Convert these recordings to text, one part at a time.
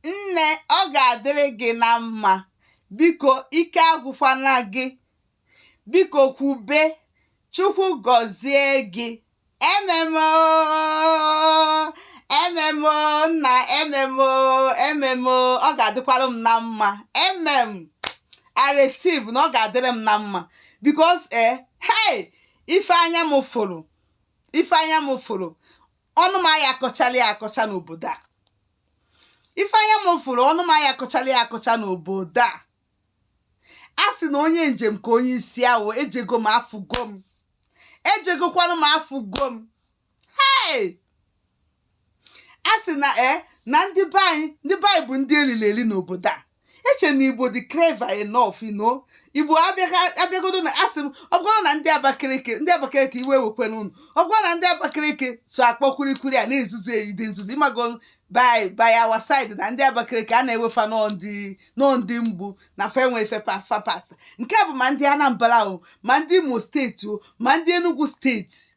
nne ọ ga-adịrị gị na mma biko ike agwụkwana gị biko kwube chukwu gọzie gị amen o amen o nna amen o amen o ọ ga-adịkwara m na mma amen i receive na ọ ga-adịrị m na mma because eh hey ife anya m fụrụ ife anya m fụrụ ọnụ m aya akọchala ya akọcha n'obodo a ife anya m fụrụ ọnụ m aya akọchala ya akọcha n'obodo a a sị na onye njem ka onye isi awọ ejego m afụgo m ejegokwanụ m afụgo m hei a sị na e na ndị be anyị ndị be anyị bụ ndị e lili eli n'obodo a eche na igbo dị clever enough you know igbo abịagodo na asị m ọ bụrụ na ndị abakaliki ndị abakaliki iwe wekwana unu ọ bụrụ na ndị abakaliki so akpọ kwurikwuri a na-ezuzu eyi dị nzuzu ịmago by by our side na ndị abakaliki a na-ewe fa na ọ ndị mgbu na fa enwe fa pasta nke a bụ ma ndị anambra o ma ndị imo steeti o ma ndị enugu steeti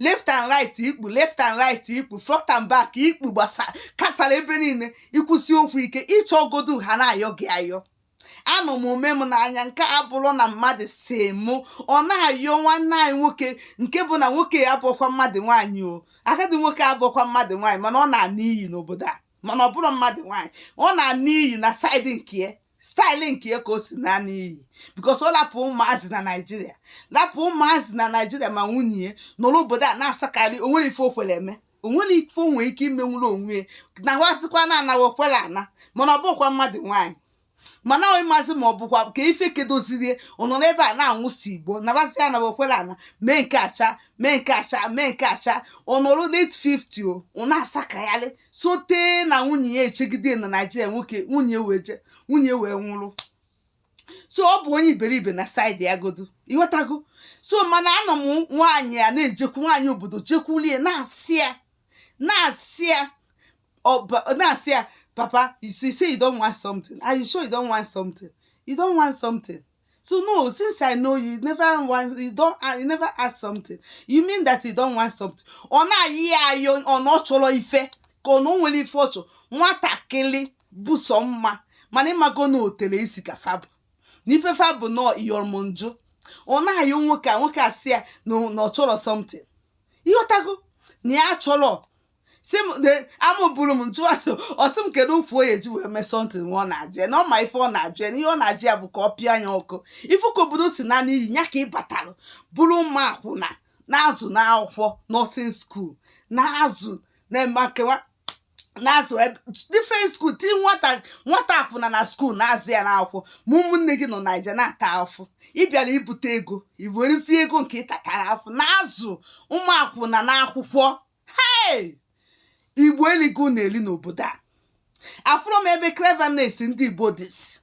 left and right ikpu left and right ikpu front and back ikpu gbasakasara ebe niile i kwusi okwu ike ị chọgodu ha na-ayọ gị ayọ anọ m o me m n'anya nke a abụrọ na mmadụ sị mụ ọ na-ayọ nwanne anyị nwoke nke bụ na nwoke abụọkwa mmadụ nwaanyị o agadi nwoke abụọkwa mmadụ nwaanyị mana ọ na-ana iyi n'obodo a mana ọ bụrọ mmadụ nwaanyị ọ na-ana iyi na side nke ya style nke ya ka o si ana n'iyi because ọ lapụ ụmụazị na naijiria lapụ ụmụazị na naijiria ma nwunye ya nọrọ obodo a na-asakarị o nwere ife o kwere eme o nwere ife o nwere ike imenwuru onwe ya nawazikwa na anaghị okwere ana mana ọ bụọkwa mmadụ nwaanyị mana onye mazi ma ọ bụkwa ka ife kedozirie ọ nọ n'ebe a na-anwụsi igbo nabazi ya na okwere ana mee nke acha mee nke acha mee nke acha ọ nọrọ late 50 o ọ na-asakagharị sote na nwunye ya echegide na naijiria nwoke nwunye wee je nwunye wee nwụrụ so ọ bụ onye iberibe na side ya godu ịghọtago so mana anọ m nwaanyị a na-ejekwu nwaanyị obodo jekwulie na-asị ya na-asị ya ọba- na-asị ya papa you say say you don't want something are you sure you don't want something you don't want something so no since i know you never want you don't uh, you never ask something you mean that you don't want something ọ na-ayọ ya ayọ na ọ chọrọ ife ka ọ na o nwere ife ọ chọrọ nwatakịrị bụ sọ mma mana ịmago na otele isi ka fa bu na ife fa bu na iyọrọmonjụ ọ na-ayọ nwoke a nwoke a sị ya na ọ chọrọ something ịghọtago na ya chọrọ si m de amụbụrụ m ntụ asị ọ sị m kedu ụkwụ onye ji wee mee something nwa ọ na-ajụ ya na ọ ma ife ọ na-ajụ ya na ihe ọ na-ajụ ya bụ ka ọ pịa anya ọkụ ị fụ ka obodo si na n'iyi ya ka ị batara bụrụ ụmụ akwụna na-azụ n'akwụkwọ nursing school na-azụ na-eme nkewa na-azụ ebe- different school ti nwata nwata akwụna na school na-azụ ya n'akwụkwọ ma ụmụnne gị nọ naija na-ata afụ ị bịara ibute ego i werezie ego nke ị tatara afụ na-azụ ụmụ akwụna n'akwụkwọ hei igbo eligo na-eli n'obodo a afụrọ m ebe cleverness ndị igbo dịzi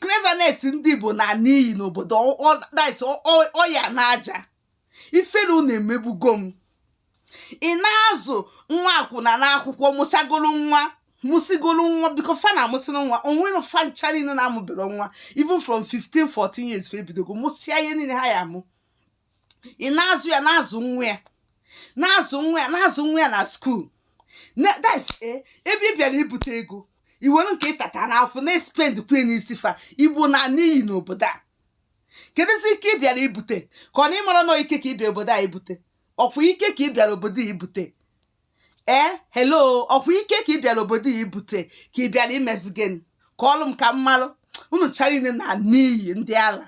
cleverness ndị igbo na n'iyi n'obodo ọya na aja ifere unu emegbugo m ị na-azụ nwa akwụna n'akwụkwọ mụsagoro nwa mụsịgoro nwa biko fa na-amụsịrị nwa o nwere fa ncha niile na-amụbere nwa even from 15 14 years fa ebidogo mụsịa ihe niile ha ya-amụ ị na-azụ ya na-azụ nwa ya na-azụ nwa ya na-azụ nwa ya na school eh, ebe ị bịara ibute ego i were nke ị tata n'afụ na-espendkwa n'isi fa igbo na n'iyi n'obodo a kedụzi ike ị bịara ibute ka ọ na ị mara na ọ ike ka ị bịara obodo a ibute ọ kwa ike ka ị bịara obodo a ibute ee eh, hello ọ kwa ike ka ị bịara obodo a ibute ka ị bịara imezi gịnị kọọlụ m ka m malụ unu ncha niile na n'iyi ndị ala